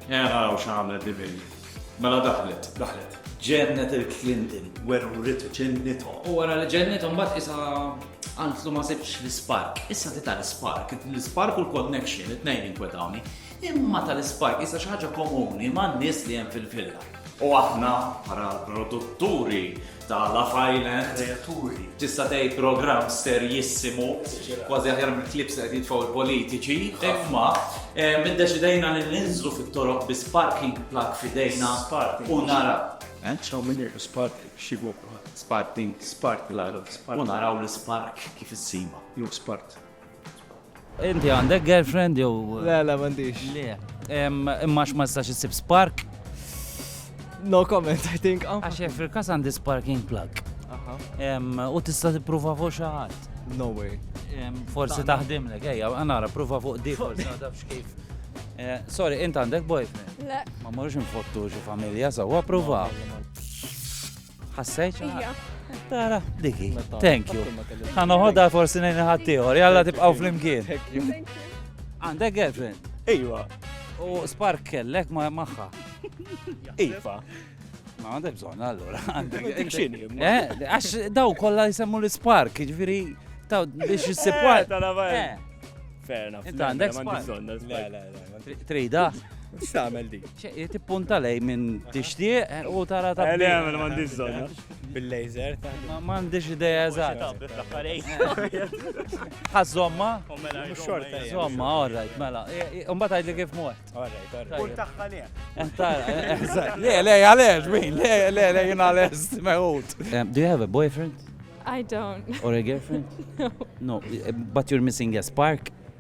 Era hawn x'għamlet di bint. Mela daħlet, daħlet. Ġennet il-Clinton, werwritu ġennithom. U wara li ġennithom mbagħad qisha qaltlu ma sibx l-ispark. Issa tita l-ispark, l-ispark u l-connection, it-tnejn jinkwetawni. Imma tal-ispark issa xi ħaġa komuni man-nies li hemm fil-villa. U aħna bħala produtturi ta' Love Island. Kreaturi. Tista' tgħid programm serjissimu, kważi aħjar mill-klips qed jitfgħu l-politiċi, imma eh, minn deċidejna li ninżlu fit-toroq bi sparking plug fidejna u nara. Eh, ċaw minn irħu spark xibu. Sparking. Spark l-għadu. U naraw l-spark kif issima. Ju spark. Inti għandek girlfriend jew. Le, le, m'għandix. Le. Imma ma tistax issib spark? No comment, I think. Oh. Għax fil kas għandi sparking plug. U tista' tippruva fuq xi ħadd. No way. Forsi taħdimlek, ejja, għanara, pruva fuq di, forsi għadabx kif. Eh, sorry, int għandek boyfriend? Le. Ma morrux nfottu xi familja, sawa pruva. Ħassejt? Tara, diki. Thank you. Għan uħodha forsi nejn ħaddieħor, jalla tibqaw fl-imkien. Għandek girlfriend? Iva. U spark kellek ma maħħa. Iva. Ma għandek bżon, allora. Għandek xini. Eh, għax daw kolla jisemmu l-spark, ġviri, taw biex jissib. Eh, eh. Fair enough. Inta għandek spark. Trida? X'tagħmel di? Tippunta lej minn tixtieq eh, u tara ta' Eli għamel m'għandix żonna. Bil-laser. Ma m'għandix idea eżatt. Ħażomma? Mela, xorta. Żomma, all right, mela. Imbagħad għidli kif mwet. All right, all right. Tagħha li. Eh, le, le, għalex, min, le, le, le, jien għalex, meħut. Eh, do you have a boyfriend? I don't. Or a girlfriend? No. No, but you're missing a spark.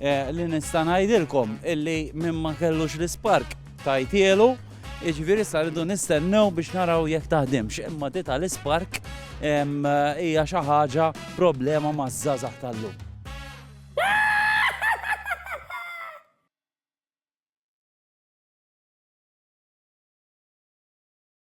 Eh, li nista' ngħidilkom illi minn ma kellux l-ispark tajtielu, iġviri sa rridu nistennew biex naraw jekk taħdimx, imma dita l-ispark hija xi ħaġa problema maż-żazax tal-lum.